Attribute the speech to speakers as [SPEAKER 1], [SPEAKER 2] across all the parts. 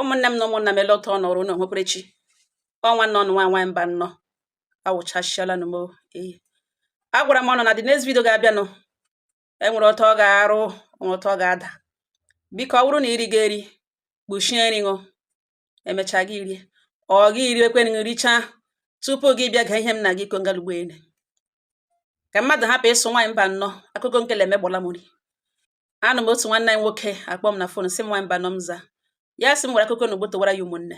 [SPEAKER 1] ụmụnne m na ụmụnna m ele otu ọ nọrọ unu nwekwara chi ọ nwanne ụnụ nwa nwaanyị mbano awụchasịala nụ m eyi agwara m ụnụ na the next video ga-abịanụ enwere otu ọ ga-arụ nwere otu ọ ga-ada biko ọ bụrụ na iri ga-eri kpuchie nri ahụ emechaa gị rie ọ gị iri ekwe nri richaa tupu gị bịa gee ihe m na-aga ịkọ ngalugbo ene ka mmadụ hapụ ịsị nwaanyị mbano akụkọ nkele emegbọla m nri anụ m otu nwanne anyị nwoke akpọ m na fon sị m nwaanyị mbano m za ya sị m gwara akụkọ na ogbo towara ya ụmụnne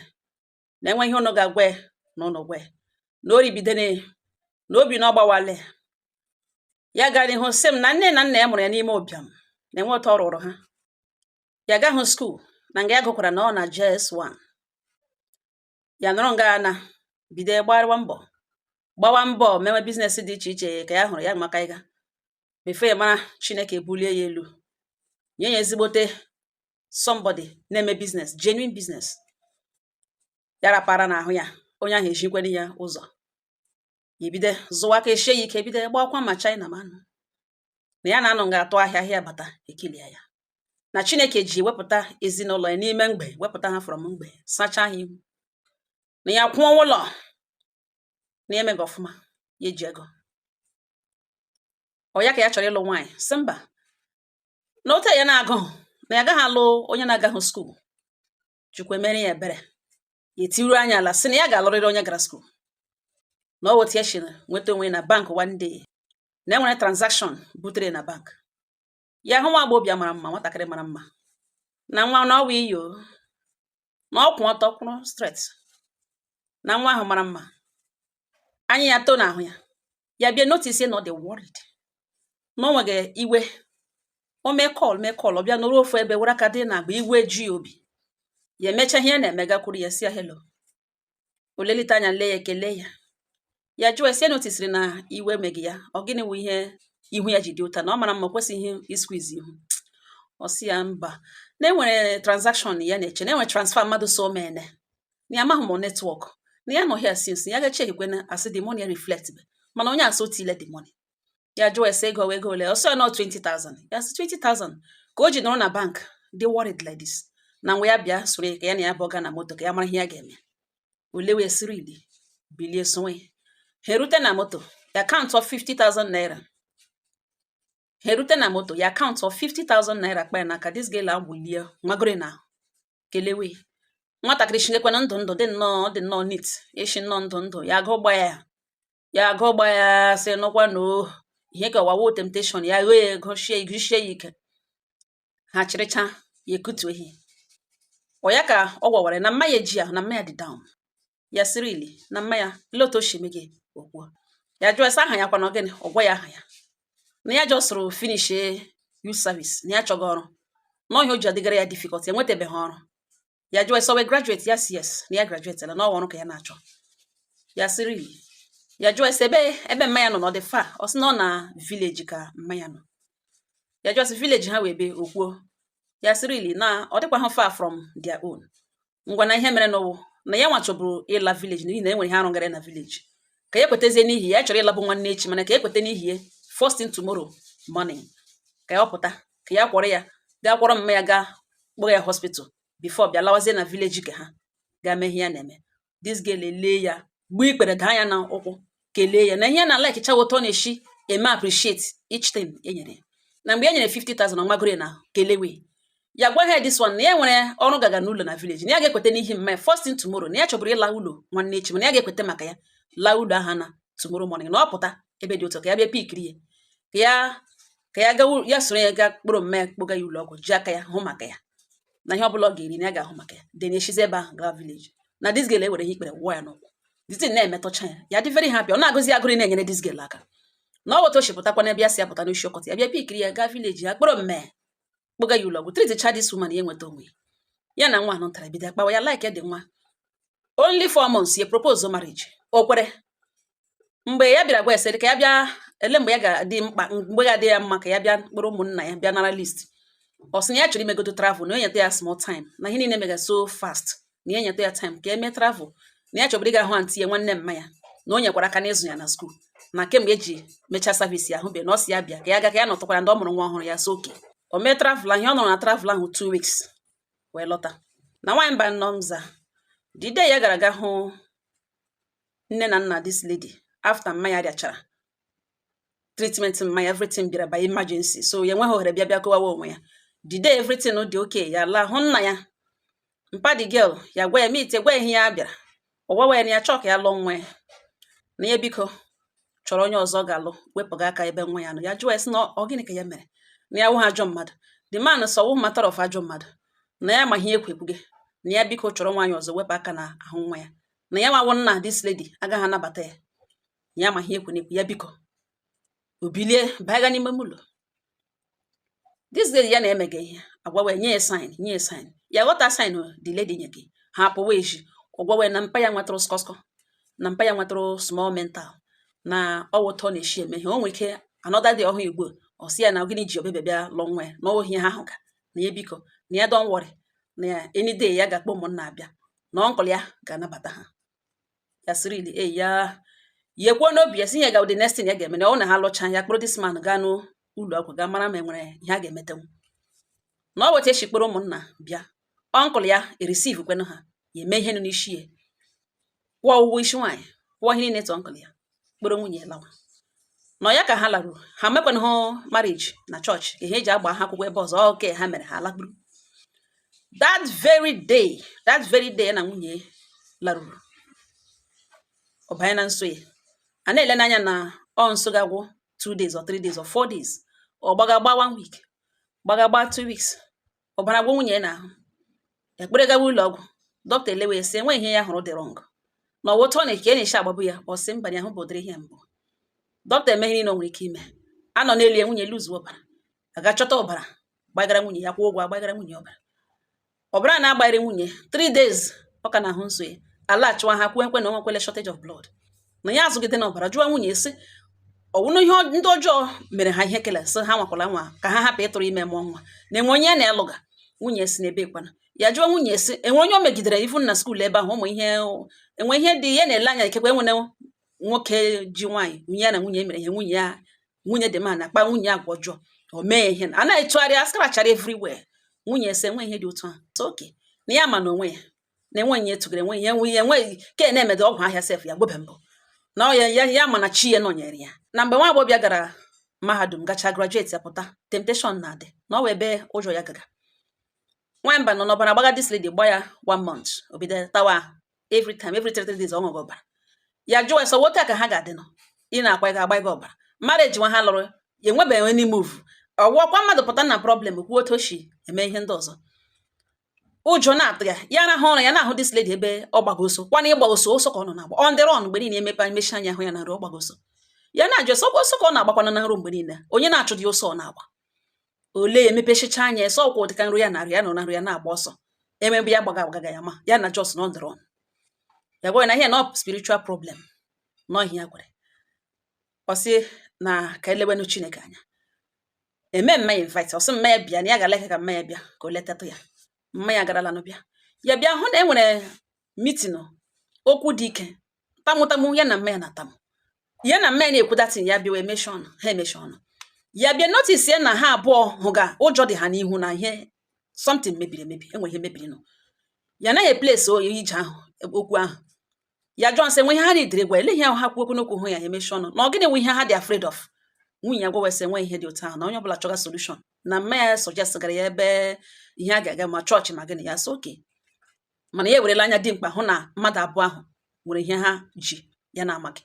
[SPEAKER 1] na enwe ihe ụnụ ga-agwa ya na ụnụ gwa ya na o ribidene na obi na ọ gbawale ya gara n'ihu sị m na nne na nna ya mụrụ ya n'ime ụbịam na enwe otu ọ rụrụ ha ya agahụ skuul na nga ya gụkwara na ọ na JS1 ya nọrọ nga na bido gbagharịwa mbọ gbawa mbọ mewe biznes dị iche iche ka ya hụrụ ya maka ịga before ya mara chineke bulie ya elu nye ya ezigbote somebody na-eme biznes genuine biznes ya rapara n'ahụ ya onye ahụ ezikwara ya ụzọ ebido zụwa aka eshie ya ike bido gbakwa ma china ma nụ na ya na-anọ nga atụ ahịa ahịa bata ekilia ya na chineke ji wepụta ezinụlọ ya n'ime mgbei wepụta ha from mgbei sachaa ha ihu na ya kwụọ ụlọ na emega ọfụma ya ji ego ọ ya ka ya chọrọ ịlụ nwaanyị sị mba na otu ya na-agụhụ na ya agahụ alụ onye na-agahụ skuul chukwu emere ya ebere ya etiru anya ala sị na ya ga-alụrịrị onye gara skuul na ọ wụ otu ya shiri nweta onwe ya na bank one day na enwere transaction butere na bank ya hụ nwa agbọghọbịa mara mma nwatakịrị mara mma na nwa na ọwa iyo na ọ kwụ ọtọ kwụrụ straight na nwa ahụ mara mma anya ya too n'ahụ ya ya bịa notice na ọ dị worried na ọ na-ewega iwe o mee call mee call ọ bịa nọrọ ofu ebe were aka dị n'agba iwe ji obi ya emecha ihe na-eme gakwuru ya sị ya hello o lelite anya lee ya ekele ya ya jụọ ya sị ya notisiri na iwe emega ya ọ gịnị wụ ihe ihu ya ji dị otu a na ọ mara mma o kwesịghị ịsqueeze ihu ọ sị ya mba na enwere transaction ya na-eche na enwere transfer mmadụ sị o mene na ya amahụ ma ọ netwọk na ya nọ here since ya ga-echekwe na a sị the money reflect mana onye ahụ sị o tiile the money ya jụọ ya sị ego ego ole ọ sị ya na ọ 20,000 ya sị 20,000 ka o ji nọrọ na bank dị worried like this na ngwa ya bịa soro ya ka ya na ya pụọ ga na moto ka ya mara ihe ya ga-eme o lewe ya siriri bilie sowe ya ha erute na moto ya akaụntụọ 50,000 naira ha erute na moto ya akaụntụọ 50,000 naira kpa ya n'aka this girl awụlie magoro na kelewe nwatakịrị eshi nekwanụ ndụ ndụ dị nnọọ ọ dị nnọọ neat eshi nnọọ ndụ ndụ ya agụ gba ya ya agụ gba ya sị nụkwa na ọ ihe ka ọwa wụ temptation ya wee gụshie gụshie ya ike ha chịrịcha ya ekutu ehi ọ ya ka ọ gwawara na mma ya ejighị ahụ na mma ya dị down ya sị really na mma ya ele otu o si eme gị o kwuo ya jụọ ya sị aha ya kwana gịnị ọ gwa ya aha ya na ya jọsụrụ finish youth service na ya chọga ọrụ na ọ ihe o ji adịgara ya difficult enwetabeghị ọrụ ya jụọ ya sị ọ wụ graduate ya sị yes na ya graduate na ọrụ ka ya na-achọ ya sịrị ya jụọ ya sị ebe ebe mma ya nọ na ọ dị far ọ sị na ọ na village ka mma ya nọ ya jụọ sị village ha wụ ebee o kwuo ya sị really na ọ dịkwa ha far from their own ngwa na ihe mere nụ wụ na ya nwa chọburu ịla village n'ihi na e nwere ihe a rụgara na village ka ya kwetazie n'ihi ya chọrọ ịlabu nwanne echi mana ka ya kweta n'ihi ya first thing tomorrow morning ka ya ọpụta ka ya kwọrọ ya gaa kwọrọ mma ya gaa kpọga ya hospital before bịa lawazie na village ka ha gaa mee ihe ya na-eme this girl elee ya gbuo ikpere daa ya na ụkwụ kelee ya na ihe na like chawa otu ọ na-eshi eme appreciate each thing e nyere ya na mgbe e nyere 50,000 ọ magoro ya na kelewe ya gwa ha this one na ya nwere ọrụ gaga n'ụlọ na village na ya ga-ekweta n'ihi mma ya first thing tomorrow na ya chọburu ịla ụlọ nwanne echi mana ya ga-ekweta maka ya laa ụlọ ha na tomorrow morning na ọ pụta ebe dị otu a ka ya bịa pikiri ya ka ya ka ya gawa ya soro ya gaa kpọrọ mma ya kpọga ya ụlọ ọgwụ ji aka ya hụ maka ya na ihe ọbụla ọ ga-eri na ya ga-ahụ maka ya then eshizi ebe ahụ gaa village na this girl ewere ihe ikpere wụọ ya n'ụkwụ the thing na-emetọcha ya ya dị very happy ọ na-agụzi ya agụụ inyere this girl aka nwata echi pụtakwa n'ebe ya sị ya pụta n'isi ọkọta ya bịa pikiri ya gaa village ya kpọrọ mma ya kpọga ya ụlọ ọgwụ treatịcha this woman ya enweta onwe ya na nwata ahụ bido akpawa ya like dị nwa only four months ya propose marriage o kwere mgbe ya bịara gwa ya sị ka ya bịa ele mgbe ya ga-adị mkpa mgbe ga-adị ya mma ka ya bịa kpọrọ ụmụnna ya bịa nara list ọ sị na ya chọrọ imegodo travel na o nyeta ya small time na ihe niile mega so fast na ya nyeta ya time ka ya mee travel na ya chọburu ịga hụ antị ya nwanne mma ya na o nyekwara aka n'ịzụ ya na school na kemgbe ya ji mechaa service ya ahụbe na ọ sị ya bịa ka ya ga ka ya nọtụkwara ndị ọ mụrụ nwa ọhụrụ ya so okay o mee travel ahụ ọ nọrọ na travel ahụ two weeks wee lọta na nwaanyị mba nọmza the day ya gara aga hụ nne na nna this lady after mma ya rịachara treatment mma ya everything bịara by emergency so ya enweghị ohere bịa bịa kọwawa onwe ya the day everything dị okay ya laa hụ nna ya mpa the girl ya gwa ya meet gwa ihe ya bịara ọ gwawa ya na ya chọọ ka ya lụọ nwa ya na ya biko chọrọ onye ọzọ ga-alụ wepụga aka ebe nwa ya nọ ya jụọ ya sị na ọ gịnị ka ya mere na ya wụghị ajọ mmadụ the man sị ọ wụhụ matter of ajọ mmadụ na ya ma ihe ekwepụghị na ya biko chọrọ nwaanyị ọzọ wepụ aka na ahụ nwa ya na ya nwa wụ nna this lady agaghị anabata ya ya ma ihe ya na-ekwu ya biko o bilie baa ga n'ime ụlọ this lady ya na-emega ihe agwawe nye ya sign nye ya sign ya aghọta sign the lady nyega ha apụwa ezi ọ gwawa ya na mpa ya nwetụrụ skọskọ na mpa ya nwetụrụ small mental na ọ wụ otu ọ na-eshi eme ihe o nwere ike another day ọ hụ igbo ọ sị ya na gịnị ji ọ bịabeghị bịa lụọ nwa ya na ohi ha ahụ ka na ya biko na ya don't worry na ya any day ya ga-akpọ ụmụnna abịa na uncle ya ga-anabata ha ya sị really eya ya ekwuo n'obi ya sị ihe ga-awụ the next thing ya ga-eme na ọ wụ na ha lụcha ya kpọrọ this man gaa n'ụlọ ọgwụ gaa mara ma e nwere ihe a ga-emetenwu na ọ weta echi kpọrọ ụmụnna bịa uncle ya ereceive kwenụ ha ya eme ihe nọ n'isi ya kwụọ ụgwọ isi nwaanyị kwụọ ihe niile to uncle ya kpọrọ nwunye ya lawa n'ụlọ ya ka ha laruru ha mekwana ha marriage na chọọchị ka ihe e ji agba ha akwụkwọ ebe ọzọ okay ha mere ha lakpuru that very day that very day na nwunye laruru ọ banye na nsọ ya a na-ele n'anya na ọ nsọ ga-agwụ two days or three days or four days ọ gbaga gba one week gbaga gba two weeks ọbara agwụ nwunye ya n'ahụ a kpọrọ ya gawa ụlọ ọgwụ dọkịta elewe ya sị enweghị ihe ya hụrụ dị wrong na ọ wụ otu a ka ọ na-eshi agbabu ya ọ sị mba ya ahụbeghị ụdịrị ihe a mbụ dọkịta eme ihe niile o nwere ike ime a nọ n'elu ya nwunye lose ọbara a gaa chọta ọbara gbagara nwunye ya kwụọ ụgwọ agbagara nwunye ọbara ọbara na-agbagharị nwunye 3 days ọ ka na-ahụ nsọ ya alachiwa ha kwuokwa na o nwekwala shortage of blood na ya azụgide na ọbara jụọ nwunye sị ọ wụnụ ihe ndị ọjọọ mere ha ihe kele sị ha enwekwala nwa ka ha hapụ ịtụrụ ime mụọ nwa na e nwere onye na-alụga nwunye sị mba kwana ya jụọ nwunye sị e nwere onye o megidere even na school ebe ahụ ụmụ ihe enwe ihe dị ya na-ele anya ikekwe e nwere nwoke ji nwaanyị nwunye ya na nwunye mere ihe nwunye ya nwunye dị ma na-akpa nwunye ya agwa ọjọọ o mee ihe a na-etụgharị askarachara everywhere nwunye asị enwe ihe dị otu ahụ okay na ya ma na onwe ya na enweghị ihe tụgara enweghị ihe enweghị ihe enweghị ka e na-emede ọgwụ ahịa sef ya agwọbe mbụ na ọ ya ya ya ma na chi ya nọnyere ya na mgbe nwa agbọghọbịa gara mahadum gacha graduate ya pụta temptation na-adị na o nwe ebe ọjọọ ya gaga nwamba nọ n'ọbara gbaga this lady gba ya one month o bido tawa ahụ every time every three three days ọ ṅụghị ọbara ya jụwa sị ọ wụ otu a ka ha ga-adị nọ ị na-akwa ga agba gị ọbara marriage nwa ha lụrụ ya enwebeghị any move ọ wụkwa mmadụ pụta na problem kwuo otu o si eme ihe ndị ọzọ ụjọ na-atụ ya ya arahụ ụra ya na-ahụ this lady ebe ọ gbaga ọsọ kwa na ịgba ọsọ ọsọ ka ọ nọ na-agba on the run mgbe niile emepe emechi anya hụ ya na nrọ ọ gbaga ọsọ ya na-ajụ ọsọ ọsọ ka ọ na-agbakwana na nrọ mgbe niile onye na-achụ dị ọsọ ọ na-agba olee ya emepechicha anya asị ọ wụ dịka nrọ ya na-arọ ya nọ na nrọ ya na-agba ọsọ emebe ya gbaga agbaga ya ma ya na just on the run ya gwa na ihe na spiritual problem na ọ wụ ihe ya kwere ọ sị na ka elewenu chineke anya eme mma ya invite ọ sị mma ya bịa na ya gara ka mma ya bịa ka o letatụ ya mma ya garalanụ bịa ya bịa hụ na e nwere meeting okwu dị ike tamụtamụ ya na mma ya na-atamụ ya na mma ya na-ekwu datin ya bịawa emechi ọnụ ha emechi ọnụ ya bịa notice ya na ha abụọ hụga ụjọ dị ha n'ihu na ihe something mebiri emebi e nwe ihe mebirinụ ya anaghị eplesi oyi ije ahụ okwu ahụ ya jụọ sị nwe ihe ha na-edere gwa ele ihe ahụ ha kwuo okwu n'okwu hụ ya emechi ọnụ na ọ gịnị nwe ihe ha dị afraid of nwunye ya gwawa sị nwe ihe dị otu ahụ na onye ọbụla chọga solution na mma ya suggest gara ya ebe ihe a ga-aga ma chọọchị ma gịnị ya sị okay mana ya ewerela anya dimkpa hụ na mmadụ abụọ ahụ nwere ihe ha ji ya na-amaghị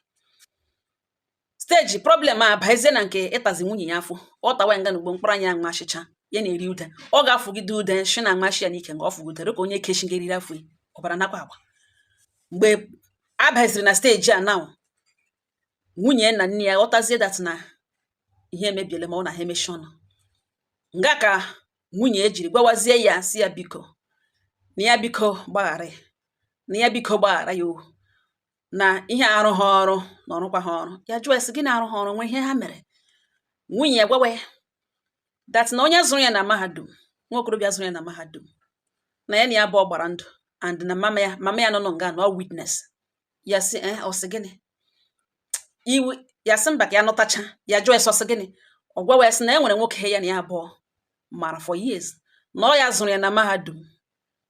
[SPEAKER 1] steji problem abazie na nke ịtazi nwunye ya afọ ọ tawa nga na ugbo mkpụrụ anya nwa achịcha ya na-eri ude ọ ga-afụgide ude shi na nwa shi ya n'ike nga ọ fụgidere ka onye kechi nga eriri afọ ọbara nakwa agba mgbe a baziri na steji a na nwunye na nne ya ghọtazie that na ihe emebiele ma ọ na ha emechi ọnụ nga ka nwunye ya jiri gwawazie ya sị ya biko na ya biko gbaghara ya na ya biko gbaghara ya o na ihe arụ ha ọrụ na ọrụkwa ha ọrụ ya jụọ ya sị gịnị na-arụ ha ọrụ nwe ihe ha mere nwunye ya gwawa ya that na onye zụrụ ya na mahadum nwa okorobịa zụrụ ya na mahadum na ya na ya abụọ gbara ndụ and na mama ya mama ya nọ nọ nga na ọ witness ya sị eh ọ sị gịnị iwe ya sị mba ka ya nụtacha ya jụọ ya sị ọ sị gịnị ọ gwawa ya sị na e nwere nwoke ya na ya abụọ mara for years na ọ ya zụrụ ya na mahadum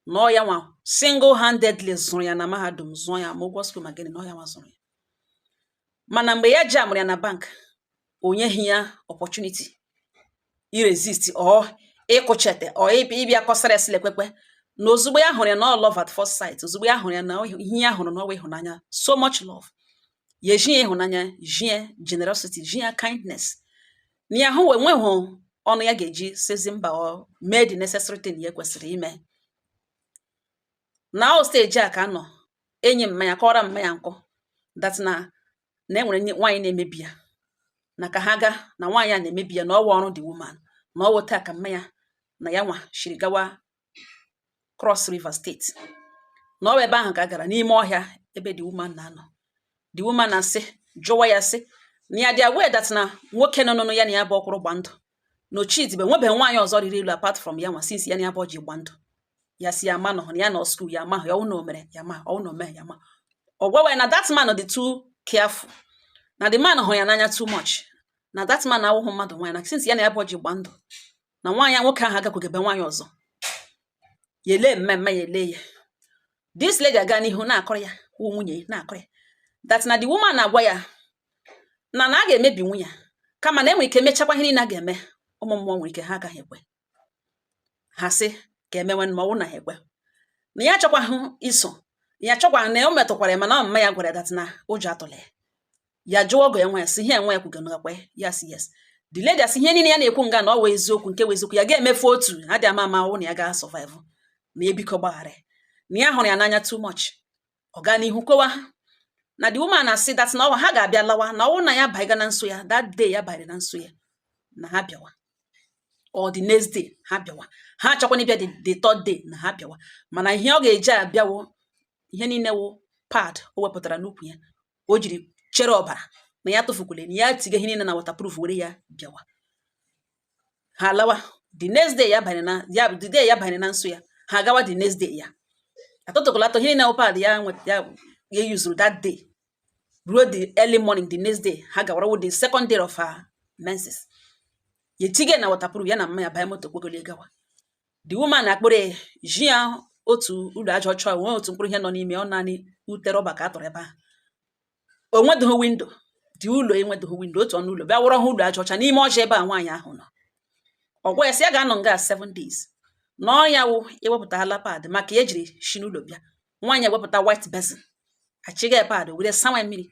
[SPEAKER 1] na ọ ya nwa single handedly zụrụ ya na mahadum zụọ ya ma ụgwọ school ma gịnị na ọ ya nwa zụrụ ya mana mgbe ya jamụrụ ya na bank o nyeghị ya opportunity iresist or ịkụchete or ịbịa kọsara esile kwekwe na ozugbo ya hụrụ ya na ọ love at first sight ozugbo ya hụrụ ya na ihe ya hụrụ na ọwụ ịhụnanya so much love ya ezi ya ịhụnanya zi ya generosity zi ya kindness na ya hụ enweghị ọnụ ya ga-eji sịzi mba or mee the necessary thing ya kwesịrị ime na ọ steji a ka a nọ enyi mma ya kọọrọ mma ya nkọ that na na e nwere nwaanyị na-emebi ya na ka ha gaa na nwaanyị a na-emebi ya na ọwụ ọrụ the woman na ọwụ otu a ka mma ya na ya nwa shiri gawa Cross River State na ọ ebe ahụ ka a gara n'ime ọhịa ebe the woman na-anọ the woman na-asị jụwa ya sị na ya dị aware that na nwoke nọ n'ọnụ ya na ya abụọ kwụrụ gba ndụ na ochidibe nwebeghị nwaanyị ọzọ ọ rịrị elu apart from ya nwa since ya na ya abụọ ji gba ndụ ya sị ya ma nọ na ya nọ school ya ma ya ọwụ na o mere ya ma ọwụ na o mere ya ma ọ gwawa ya na that man dị too careful na the man hụrụ ya n'anya too much na that man awụghị mmadụ nwaanyị na since ya na ya abụọ ji gba ndụ na nwaanyị nwoke ahụ agakwaghị ebe nwaanyị ọzọ ya ele mmemme ya ele ya this lady aga n'ihu na-akọrọ ya wụ nwunye na-akọrọ ya that na the woman na-agwa ya na na a ga-emebinwu ya kama na enwere ike mechakwa ihe niile a ga-eme ụmụ mmụọ nwere ike ha agaghị ekwe ha sị ka emewe ma ọ wụ na ha ekwe na ya achọkwaghị iso ya achọkwaghị na o metụkwara ya mana mma ya gwara that na ụjọ atụla ya ya jụọ ọgọ ya nwa ya sị ihe nwa ya kwuga nakwa ya sị yes the lady asị ihe niile ya na-ekwu nga na ọ wụ eziokwu nke wụ eziokwu ya ga-emefu otu ha dị ama ama ọ wụ na ya ga survive na biko gbaghara na ya hụrụ ya n'anya too much ọ gaa n'ihu kọwa ha na the woman asị that na ọwa ha ga-abịa lawa na ọ wụ na ya baiga na nsọ ya that day ya banyere na nsọ ya na ha bịawa or the next day ha bịawa ha achọkwana ịbịa the third day na ha bịawa mana ihe ọ ga-eji abịa wụ ihe niile wụ pad o wepụtara n'ukwu ya ka o jiri chere ọbara na ya tụfukwule na ya tiga ihe niile na waterproof were ya bịawa ha lawa the next day ya banye na ya the day ya banye na nsọ ya ha gawa the next day ya atụtụkọlata ihe niile wụ pad ya ya ya yuzuru that day ruo the early morning the next day ha gawara with the second day of her menses ya etige na waterproof ya na mma ya banye moto kpogoli gawa the woman akpụrụ ji ya otu ụlọ aja ọcha nwee otu mkpụrụ ihe nọ n'ime ọ naanị ute rọba ka a tọrọ ebe ahụ o nwedịghị window dị ụlọ enwedịghị window otu ọnụ ụlọ bịa wụrụ ha ụlọ aja ọcha n'ime ọhịa ebe nwaanyị ahụ nọ ọ gwa ya sị ya ga-anọ nga seven days na ọ ya wụ ewepụtala pad maka ya ejiri shi n'ụlọ bịa nwaanyị ewepụta white basin achịga pad were sawa mmiri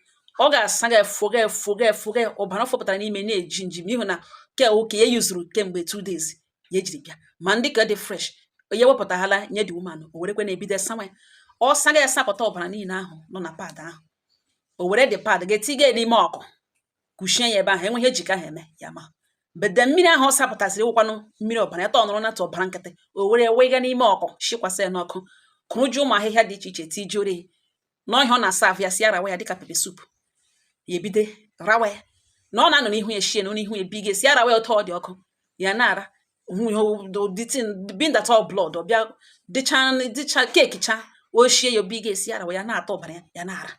[SPEAKER 1] ọ ga-asa gị efo gị efo gị efo gị ọbara fọpụtara n'ime na-eji nji n'ihi na ke oke ya yuzuru kemgbe two days ya ejiri bịa ma ndị ka dị fresh ya wepụtahala nye the woman o werekwe na-ebido sawa ya ọ saga ya sapụta ọbara niile ahụ nọ na pad ahụ o were the pad ga-etiga n'ime ọkụ kuchie ya ebe ahụ enweghị ihe eji ka ha eme ya ma bede mmiri ahụ ọ sapụtasịrị wụkwanụ mmiri ọbara ya tọnụrụ na ọbara nkịtị o were wega n'ime ọkụ shikwasị ya n'ọkụ kụrụ ji ụmụ ahịhịa dị iche iche tijuoro ya n'ọhịa ọ na-asa ahụ ya sị ya rawa ya dịka pepper soup ya ebido rawa ya na ọ na-anọ n'ihu ya shie na n'ihu ya biga sị ya rawa ya otu ọ dị ọkụ ya na-ara being that ọ blood ọ bịa dịcha dịcha keeki cha ochie ya obi ga-esi ara ya na-ata ọbara ya ya na-ara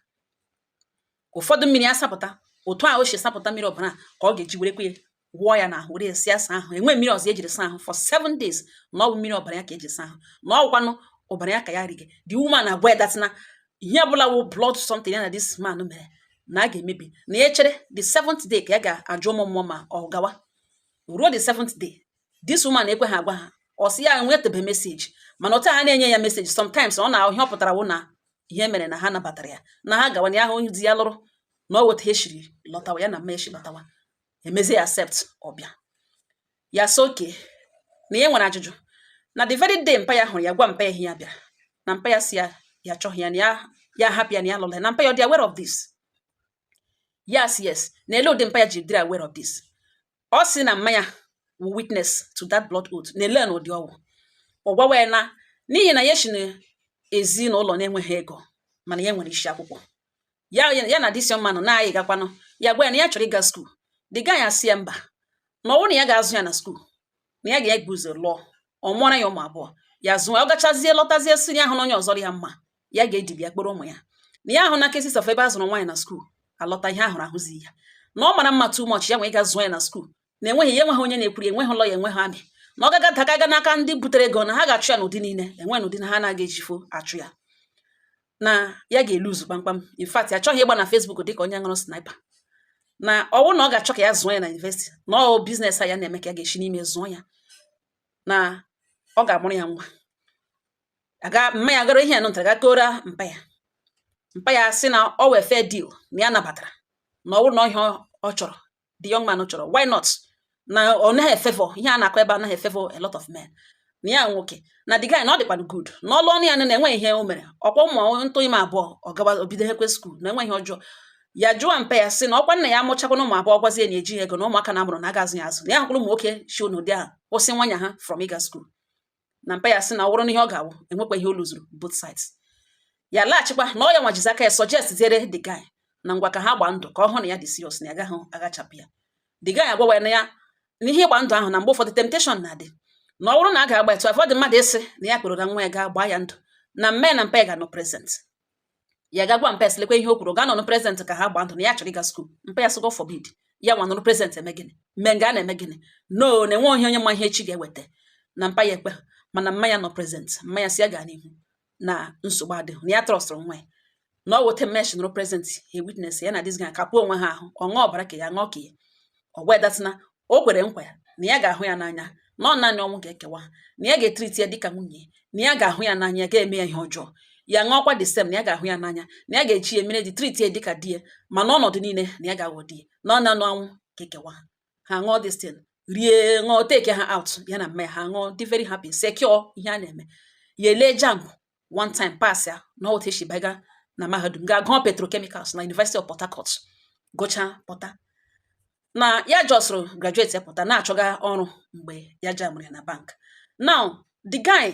[SPEAKER 1] ụfọdụ mmiri asapụta otu a o si sapụta mmiri ọbara ka ọ ga-eji were kwe wụọ ya n'ahụ were si asa ahụ enwe mmiri ọzọ ejiri saa ahụ for seven days na ọ bụ mmiri ọbara ya ka eji saa ahụ na ọ bụkwanụ ọbara ya ka ya rige the woman na-agwa that na ihe ọbụla wụ blood something ya na this man mere na a ga-emebi na ya chere the seventh day ka ya ga-ajụ ụmụ mmụọ ma ọ gawa ruo the seventh day this woman ekwe ha agwa ha ọ sị ya nwetebe message mana otu ha na-enye ya message sometimes ọ na ihe ọ pụtara wụ na ihe mere na ha nabatara ya na ha gawa ya ahụ onye di ya lụrụ na ọ wụ etu a e shiri lọtawa ya na mma ya shi lọtawa emezi ya accept ọbịa ya sị okay na ya nwere ajụjụ na the very day mpa ya hụrụ ya gwa mpa ya ihe ya bịara na mpa ya sị ya ya chọghị ya na ya ya hapụ ya na ya lụrụ ya na mpa ya ọ dị aware of this yes yes na ele ụdị mpa ya ji dịrị aware of this ọ sị na mma ya wụ witness to that blood oath na ele n'ụdị ọ wụ ọ gwawa ya na n'ihi na ya shi na ezinụlọ na-enweghị ego mana ya nwere isi akwụkwọ ya ya na this young man nọ na-ayị gakwanụ ya gwa ya na ya chọrọ ịga skuul the guy asị ya mba na ọ wụ na ya ga-azụ ya na skuul na ya ga-ebu ụzọ lụọ ọ mụọra ya ụmụ abụọ ya zụọ ọ gachazie lọtazie sị ya ahụna onye ọzọ ya mma ya ga-edibi ya kpọrọ ụmụ ya na ya ahụna cases of ebe a zụrụ nwaanyị na skuul alọta ihe ahụrụ ahụzi ya na ọ mara mma too much ya nwee ga zụọ ya na skuul na enweghị ya enweghị onye na-ekwuri enweghị ụlọ ya enweghị amị na ọ gaga daga aga n'aka ndị butere ego na ha ga-achụ ya n'ụdị niile enwe n'ụdị na ha anaghị ejifo achụ ya na ya ga-eluzu kpamkpam in fact ya chọghị ịgba na Facebook dịka onye ṅụrụ sniper na ọ wụrụ na ọ ga-achọ ka ya zụọ ya na university na ọ business a ya na-eme ka ya ga-esi n'ime zụọ ya na ọ ga-amụrụ ya nwa aga mma ya gara ihe ya nụtara ga kọọra mpa ya mpa ya sị na ọ wụ a fair deal na ya nabatara na ọ wụrụ na ọ ihe ọ chọrọ the young man chọrọ why not na ọ naghị efevọ ihe a na-akọ ebe a naghị efevọ a lot of men na ya nwoke na the guy na ọ dịkwanụ good na ọ lụọnụ ya na enwe ihe o mere ọkwa ụmụ ntụ ime abụọ ọ gawa o bidokwa skuul na enwe ihe ọjọọ ya jụọ mpa ya sị na ọkwa nna ya amụchakwa na ụmụ abụọ gwazie na eji ego na ụmụaka na a mụrụ na a ga-azụ ya azụ na ya hụkwụrụ ụmụ nwoke shi n'ụdị ahụ kwụsị nwanya ha from ịga skuul na mpa ya sị na ọ wụrụ na ihe ọ ga-awụ enwekwa ihe o luzuru both sides ya laghachikwa na ọ ya nwa jizi aka ya suggestiere the guy na ngwa ka ha gbaa ndụ ka ọ hụ na ya dị serious na ya gaghị aghachapụ ya the guy agwawa ya na ya na ihe ịgba ndụ ahụ na mgbe ụfọdụ temptation na-adị na ọ bụrụ na a ga-agba to avoid mmadụ ịsị na ya kpọọrọ nwa ya gaa gbaa ya ndụ na mma ya na mpa ya ga-anọ present ya ga gwa mpa ya sị lekwa ihe o kwuru ga-anọnụ present ka ha gbaa ndụ na ya chọrọ ịga skuul mpa ya sị God forbid ya nwa nọrọ present eme gịnị mme nga a na-eme gịnị no na enwe onye onye ma ihe echi ga-eweta na mpa ya ekwe mana mma ya nọ present mma ya sị ya gaa n'ihu na nsogbu adịghị na ya trọstụrụ nwa ya na ọ wụ etu a mma ya shi nọrọ present he witness ya na this guy kapụọ onwe ha ahụ ọ ṅụọ ọbara nke ya ṅụọ nke ya ọ gwa ya that thing na o kwere nkwa ya na ya ga-ahụ ya n'anya na ọ naanị ọnwụ ga-ekewa na ya ga-etriti ya dịka nwunye na ya ga-ahụ ya n'anya gaghị eme ya ihe ọjọọ ya ṅụọkwa the same na ya ga-ahụ ya n'anya na ya ga-eji ya mere di triti ya dịka di ya ma n'ọnọdụ niile na ya ga-aghọ di ya na ọ naanị ọnwụ ga-ekewa ha ṅụọ this thing rie ṅụọ take ha out ya na mma ya ha ṅụọ dị very happy secure ihe a na-eme ya elee JAMB one time pass ya na otu esi baga na mahadum gaa gụọ petrochemicals na University of Port Harcourt gụchaa pụta na ya jọsụrụ graduate ya pụta na-achọga ọrụ mgbe ya jamụrụ ya na bank now the guy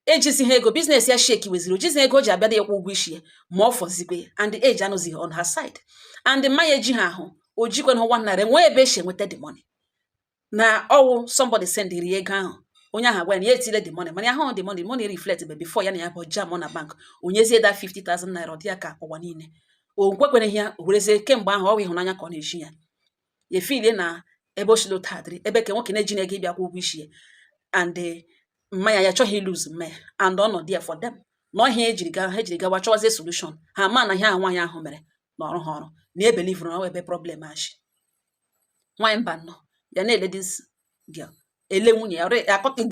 [SPEAKER 1] ejizighị ego business ya shekiweziri o jizi ego o ji abịa ịkwụ ụgwọ isi ya ma ọ fọzikwe and the age anọzighị on her side and mma ya ejighị ahụ o jikwenụ nwa nara enwe ebe esi enweta the money na ọwụ somebody sendịrị ya ego ahụ onye ahụ agwa ya na ya etile the money mana ya hụ the money the money reflect be before ya na ya bụ jam na bank o nyezie that 50,000 naira ọ dị ya ka ụwa niile o kwekwereghị ya o werezie kemgbe ahụ ọwụ ịhụnanya ka ọ na-eji ya ya efilie na ebe o sila otu a dịrị ebe ke nwoke na-ejighị ego ịbịa kwụ ụgwọ isi ya and eh, mma ya ya achọghị lose mma ya and ọ nọ there for them na ọ ihe a ejiri ga ha ejiri gawa chọwazie solution ha ma na ihe ahụ nwaanyị ahụ mere na ọ rụ ha ọrụ na ebelivụrụ na ọ ebe problem a si nwaanyị mba nọ ya na-ele this girl ele nwunye ya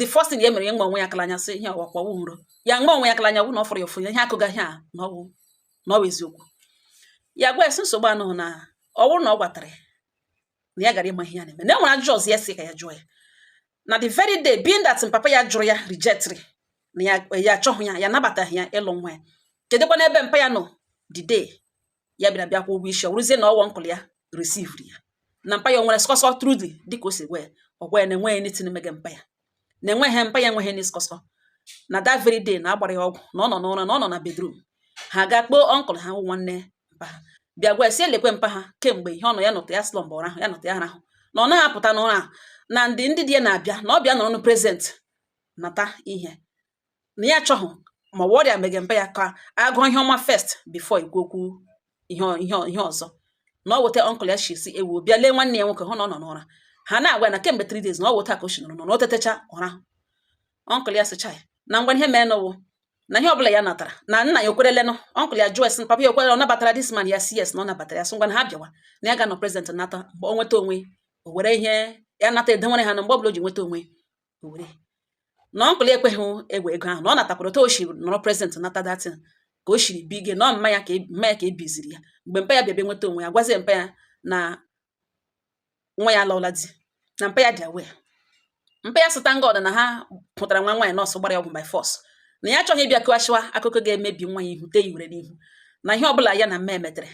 [SPEAKER 1] the first thing ya mere ya nwe onwe ya aka n'anya sị ihe ọ wụkwa ọ wụ nrọ ya nwe onwe ya aka n'anya hụ na ọ fụrụ ya ụfụ ya ihe a kọgara ya na ọ wụ na ọ wụ eziokwu ya gwa ya sị nsogbu anọghị na ọ bụrụ na ọ gwatara ya na ya gara ịma ihe ya na-eme na e nwere ajụjụ ọzọ ya sị ka ya jụọ ya na the very day being that papa ya jụrụ ya rejectịrị na ya achọghị ya ya nabataghị ya ịlụ nwa ya kedụkwa n'ebe mpa ya nọ the day ya bịara bịa kwụọ ụgwọ isi ọ wụrụzie na ọ wụ uncle ya resivri ya na mpa ya o nwere skọsọ truly dịka o si gwa ya ọ gwa ya na enweghị nothing mege mpa ya na enweghị mpa ya enweghị any skọsọ na that very day na a gbara ya ọgwụ na ọ nọ n'ụra na ọ nọ na bedroom ha gaa kpọọ uncle ha wụ nwanne mpa ha bịa gwa ya sị ya lekwe mpa ha kemgbe ihe ọ nọ ya nọta ya slumber ụra ahụ ya nọta ya arahụ na ọ naghị apụta n'ụra ahụ na ndị ndị di ya na-abịa na ọ bịa nọrọ nụ present nata ihe na ya achọghị ma ọ ọrịa mege mpa ya ka agụọ ihe ọma first before ikwu okwu ihe ihe ihe ọzọ na ọ wụ otu a uncle ya shi sị ewo bịa lee nwanne ya nwoke hụ na ọ nọ n'ụra ha na-agwa na kemgbe 3 days na ọ wụ otu a ka o si nọrọ na o tetecha ụra uncle ya sịcha ya na ngwa ihe mee nụ wụ na ihe ọbụla ya natara na nna ya o kwerelenụ uncle ya jụọ ya sị papa ya o kwere ọ nabatara this man ya sị yes na ọ nabatara ya sị ngwa na ha bịawa na ya ga-anọ present nata mgbe ọ nweta onwe o were ihe ya nata edewere ha na mgbe ọbụla o ji nweta onwe o were na uncle ekweghị egwe ego ahụ na ọ natakwara otu o si nọrọ present nata that thing ka o siri bi ige na ọ mma ya ka e- mma ya ka e biziri ya mgbe mpa ya bịa bịa nweta onwe ya gwazie mpa ya na nwa ya alụọla di na mpa ya dị aware mpa ya sị thank God na ha hụtara nwa nwaanyị nọọsụ gbara ya ọgwụ by force na ya achọghị ịbịa kọghachiwa akụkọ ga-emebi nwa ya ihu tee ihere n'ihu na ihe ọbụla ya na mma ya metere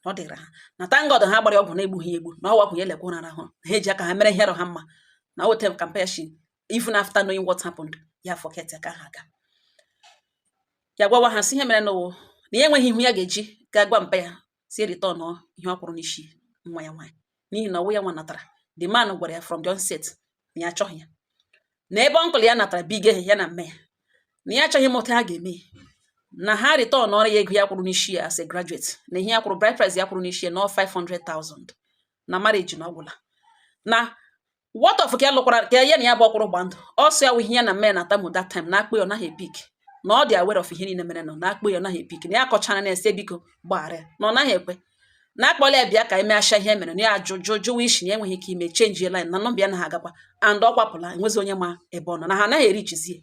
[SPEAKER 1] ọ dịrị ha na thank God ha gbara ya ọgwụ na-egbughị egbu na ọ wụ ọgwụ ya lekwa ụra ahụ ha eji aka ha mere ihe ha mma na otu a ka mpa ya shi even after knowing what happened ya forget ka ha gaa ya gwawa ha sị ihe mere nụ wụ na ya enweghị ihu ya ga-eji ga gwa mpa ya sị ya return ihe ọ kwụrụ n'isi nwa ya nwaanyị n'ihi na ọ wụ ya nwa natara the man gwara ya from the onset na ya achọghị ya na ebe uncle ya natara big ihe ya na mme ya na ya achọghị ịma otu ha ga-eme na ha returnụọrọ ya ego ya kwụrụ n'isi ya as a graduate na ihe ya kwụrụ bride price ya kwụrụ n'isi ya na 500,000 na marriage na ọ gwụla na what of ka ya lụkwara ka ya na ya bụ ọ kwụrụ gba ndụ ọ sị ọ wụ ihe ya na mme na-atamu that time na a kpọọ ya ọ naghị epick na ọ dị aware of ihe niile mere na a na-akpọ ya ọ naghị epick na ya kọchara na-asị biko gbaghara ya na ọ naghị ekwe na a kpọọla ya bịa ka e mesha ihe mere na ya ajụ jụ jụwa isi na ya enweghị ike ime change line na number ya anaghị agakwa and ọ kwapụla enwezi onye ma ebe ọ nọ na ha anaghị ereachizi ya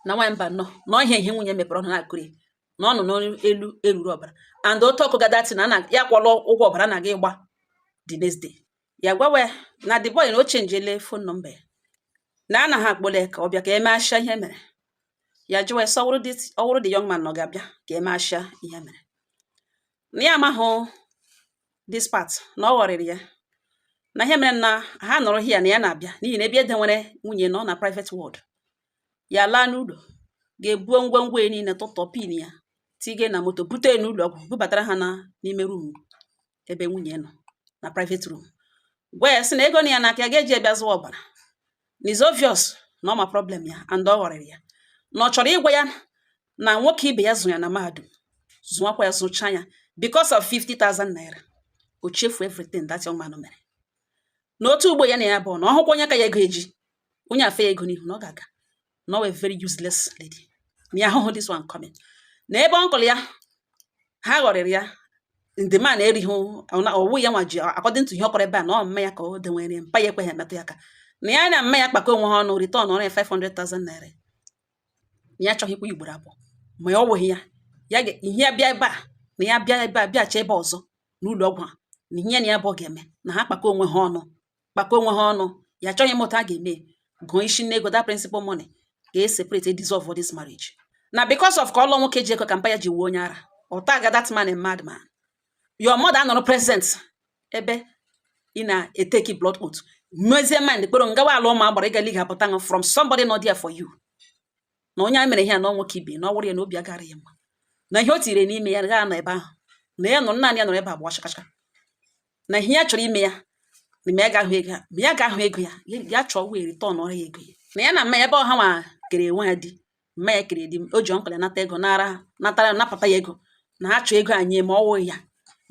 [SPEAKER 1] na nwaanyị mba nnọọ na ọ ihe ihe nwunye mepere ọnụ na-akọrị ya na ọ nọ n'elu oruru ọbara and otu ọkụ gadati na na ya kwụrụ ụgwọ ọbara na-aga ịgba the next day ya gwawa ya na the boy na o chenjele phone number ya na anaghị akpọrọ ya ka ọ bịa ka e mesha ihe mere ya jụwa ya sị ọ wụrụ the young man na ọ ga-abịa ka e mesha ihe mere na ya amaghị this part na ọ ghọrịrị ya na ihe mere na ha nọrọ here na ya na-abịa n'ihi na ebe e denwere nwunye nọ na private ward ya laa n'ụlọ ga-ebuo ngwongwo ya niile tụtọ pin ya tige na moto bute n'ụlọ ọgwụ bubatara ha n'ime room ebe nwunye nọ na private room gwa ya sị na ego nọ ya n'aka ya ga-eji ya bịa zụọ ọbara na it's obvious na ọ ma problem ya and ọ ghọrịrị ya na ọ chọrọ ịgwa ya na nwoke ibe ya zụọ ya na mahadum zụọkwa ya zụcha ya because of 50,000 naira o chefu everything that young man mere na otu ugbo ya na ya bụ na ọ hụkwa onye ka ya ego eji onye a fee ya ego n'ihu na ọ ga-aga na ọ wụ a very useless lady na ya ahụhụ this one coming na ebe uncle ya ha ghọrịrị ya na the man erighị ọ wụ ya nwa ji according to ihe ọ kọrọ ebe a na ọ mme ya ka o denwere mpa ya ekweghị emetụ ya aka na ya na mme ya kpakọ onwe ha ọnụ returnụọrọ ya 500,000 naira ya achọghịkwa ugboro abụọ ma ya ọ wụghị ya ya ihe ya bịa ebe a na ya bịa ebe a bịacha ebe ọzọ n'ụlọ ọgwụ a na ihe na ya bụ ọ ga-eme na ha kpakọ onwe ha ọnụ kpakọ onwe ha ọnụ ya achọghị ịma otu ha ga-eme gụọ isi n'ego that principal money ka e separate e dissolve this marriage na because of ka ọ lụọ nwoke ji ego ka mpa ya ji wuo onye ara ọ taga that man a madman your mother anọrọ present ebe ị na-eteki blood oath mezie mind kpọrọ gị gawa ala ụmụ agbara ịga liga pụta ṅụ from somebody not there for you na onye a mere ihe a na nwoke ibe na ọ wụrụ ya na obi agara ya mma na ihe o tiri n'ime ya gaa na ebe ahụ na ya nọ naanị ya nọrọ ebe a gbawa chakachaka na ihe ya chọrọ ime ya na ma ya ga-ahụ ego ya ma ya ga-ahụ ego ya ya chọọ wee returnụọrọ ya ego ya na ya na mma ya ebe ọ ha nwa kere nwa ya di mma ya kere di o ji uncle ya nata ego nara natara napụta ya ego na ha chọọ ego anyị ma ọ wụ ya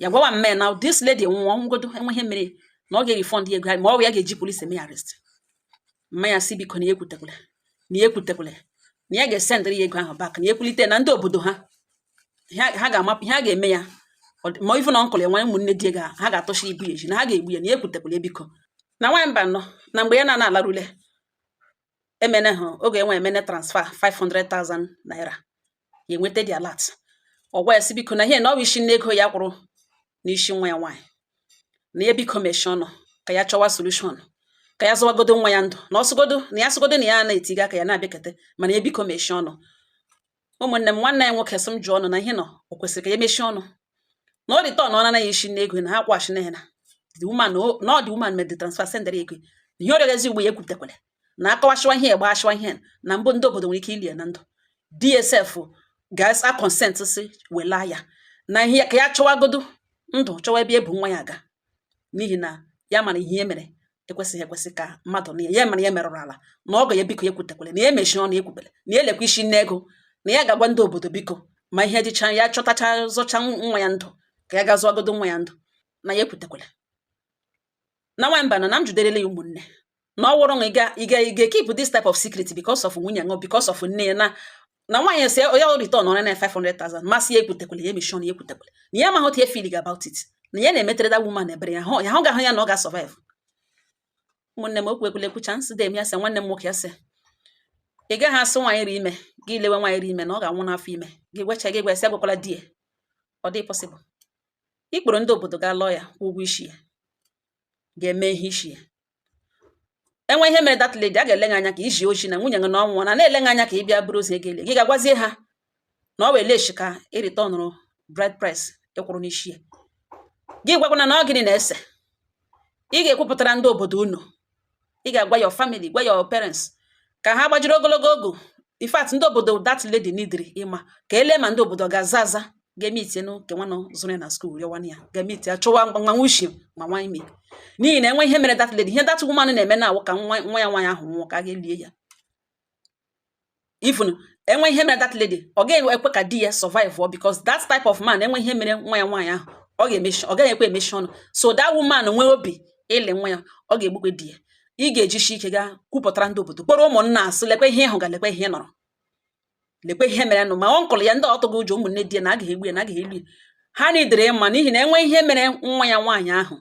[SPEAKER 1] ya gwawa mma ya na this lady nwụọ ngodo enweghị ihe mere na ọ ga-erefund ya ego ya ma ọ wụ ya ga-eji polisi eme ya arrest mma ya sị biko na ya ekwutekwala na ya ekwutekwala na ya ga-esendịrị ya ego ahụ back na ya ekwulite na ndị obodo ha ha ga-amapụ ihe a ga-eme ya ma ife na uncle ya nwa ụmụnne di ya ha ga-atọchi ibu ya eji na ha ga-egbu ya na ya ekwutekwala ya biko na nwaanyị mba nọ na mgbe ya na na-alarule emene ha oge enwe emene transfer 500,000 naira ya enweta the alert ọ gwa ya sị biko na ihe na ọ wụ isi nne ego ya kwụrụ n'isi nwa ya nwaanyị na ya biko mechie ọnụ ka ya chọwa solution ka ya zọwagodo nwa ya ndụ na ọsụgodo na ya sụgodo na ya na-etiga aka ya na-abịakete mana ya biko mechie ọnụ ụmụnne m nwanne ya nwoke sị m jụọ unu na ihe nọ o kwesịrị ka ya mechie ọnụ na ọ returnọọla isi nne ego na ha kwụghachi na ya na the woman na ọ the woman mere the transfer sendere ego na ihe ọ rịọgazi ugbua ya ekwupụtakwala na akọwasịwa ihe gbasawa ihe na mbụ ndị obodo nwere ike ili ya na ndụ dsf ga-asa consent si wela ya na ihe ya ka ya chọwagodo ndụ chọwa ebe ebu nwa ya aga n'ihi na ya mara ihe e mere ekwesịghị ekwesị ka mmadụ na ya mere ya merụrụ ala na ọgọ ya biko ya ekwutekwele na ya emechi ọnụ ya ekwubele na ya elekwa isi nne ego na ya ga-agwa ndị obodo biko ma ihe dịcha ya chọtacha zọcha nwa ya ndụ ka ya gaa zọwagodo nwa ya ndụ na ya ekwutekwele na nwamba na na m juderele ya ụmụnne na ọ wụrụ na ị ga ị ga ị ga keep this type of secret because of nwunye gị because of nne ya na na nwaanyị sị ya ọ returnụọrọ ya na 500,000 ma sị ya ekwutekwele ya emeshie ọnụ ya ekwutekwele na ya amaghị otu ya feeling about it na ya na-emetere that woman ebere ya hụ ya hụ ga-ahụ ya na ọ ga-survive ụmụnne m okwu ekwule ekwucha nsị dem ya sị nwanne m nwoke ya sị ị gaghị asị nwaanyị ri ime gị lewe nwaanyị ri ime na ọ ga-anwụ n'afọ ime gị gwecha gị gwesị agwakwala di ya ọ dị possible ị kpọrọ ndị obodo ga lụọ ya kwụ ụgwọ isi ya ga-eme ihe isi ya e nwee ihe mere that lady a ga-ele gị anya ka i zi ozi na nwunye gị na ọ nwụọna a na-ele gị anya ka ị bịa buru ozu ya gaa lie gị ga-agwazie ha na ọ wee leshi ka e returnụrụ bride price ị kwụrụ n'isi ya gị gwakwana na ọ gịnị na-ese ị ga-ekwupụtara ndị obodo unu ị ga-agwa your family gwa your parents ka ha gbajiri ogologo ọgọ in fact ndị obodo that lady needịrị ịma ka e lee ma ndị obodo ga-aza aza ga-emeeti ya uncle nwanụ zụrụ ya na school rịọwa ya ga-emeeti ya achọwa nwa ushi ma nwa ime n'ihi na e nwee ihe mere that lady ihe that woman na-eme na ọ wụ ka nwa nwa ya nwaanyị ahụ nwụọ ka a ga-elie ya even e nwee ihe mere that lady ọ gaghị ekwe ka di ya survive ọ because that type of man e nwee ihe mere nwa ya nwaanyị ahụ ọ ga-emechi ọ gaghị ekwe emechi ọnụ so that woman nwee obi ili nwa ya ọ ga-egbukwe di ya ị ga-ejisi ike gaa kwupụtara ndị obodo kpọrọ ụmụnna asị lekwe ihe ị hụga lekwe ihe nọrọ lekwe ihe mere nụ ma uncle ya ndị ọ tụga ụjọ ụmụnne di ya na agaghị egbu ya na agaghị eli ya ha needịrị ịma n'ihi na e nwee ihe mere nwa ya nwaanyị ahụ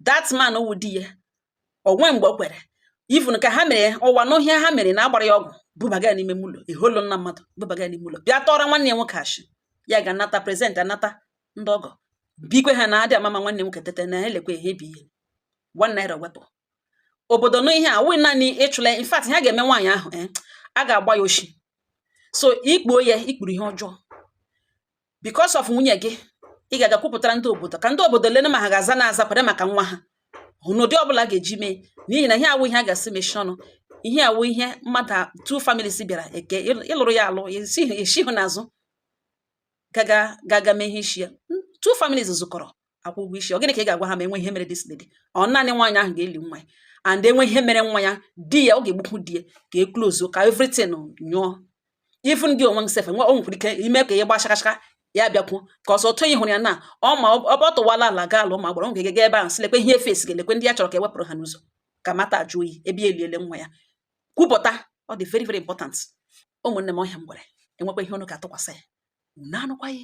[SPEAKER 1] that man wụ di ya o nweghị mgbe o kwere even ka ha mere ụwa n'ọhịa ha mere na agbara ya ọgwụ bubaga ya n'ime ụlọ eholo nna mmadụ bubaga ya n'ime ụlọ bịa tọọrọ nwanne ya nwoke achị ya ga anata present anata ndị ọgọ bikwe ha na adịghị ama ama nwanne nwoke tete na elekwe ihe bi ihe one naira wepụ obodo no ihe a wụ naanị ịchụla ya. in fact ihe a ga-eme nwaanyị ahụ eh, a ga-agba ya oshi so i kpuo ya i kpuru ihe ọjọọ because of nwunye gị ị ga-aga kwupụtara ndị obodo ka ndị obodo lene ma ha ga-aza na aza kwere maka nwa ahụ n'ụdị ọbụla ga-eji mee n'ihi na ihe awụ ihe a ga-asị mechie ọnụ ihe awụ ihe mmadụ a- two families bịara eke ịl- ị lụrụ ya alụ esi- esihụ n'azụ gaga gaga mee ihe isi ya two families zụkọrọ a kwụọ ụgwọ isi ọ gịnị ka ị ga-agwa ha ma e nwee ihe mere this lady ọ naanị nwaanyị ahụ ga-eli nwa ya and e nwee ihe mere nwa ya di ya ọ ga-egbukwu di ya ka e klozuo ka everything nyụọ even gị onwe sef nwe o nwekwara ike ime ka ihe gbachakachaka ya bịakwu ka ọsọ otu ị hụrụ ya na ọ ma ọ tụwala ala gaa ala ma gbara ọ ga-ege ebe ahụ sị lekwe ihe fesi ga-elekwe ndị ya chọrọ ka e wepụrụ ha n'ụzọ ka mata ajụ oyi ebe ya eliele nwa ya kwupụta ọ dị very very important ụmụnne m ọhịa m gwere e nwekwa ihe unu ga-atụkwasị ya unu atụkwasị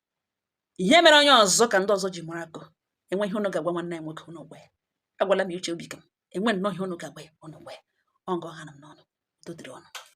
[SPEAKER 1] ihe mere onye ọzọ ka ndị ọzọ ji mụrụ akọ e nwee ihe unu ga-agwa nwanne ya nwoke unu gwa ya agwala m ya uche obi ka m e nwee nnọọ ihe unu ga-agwa ya unu gwa ya ọ nga ọ hanụ m n'ọnụ udo dịrị unu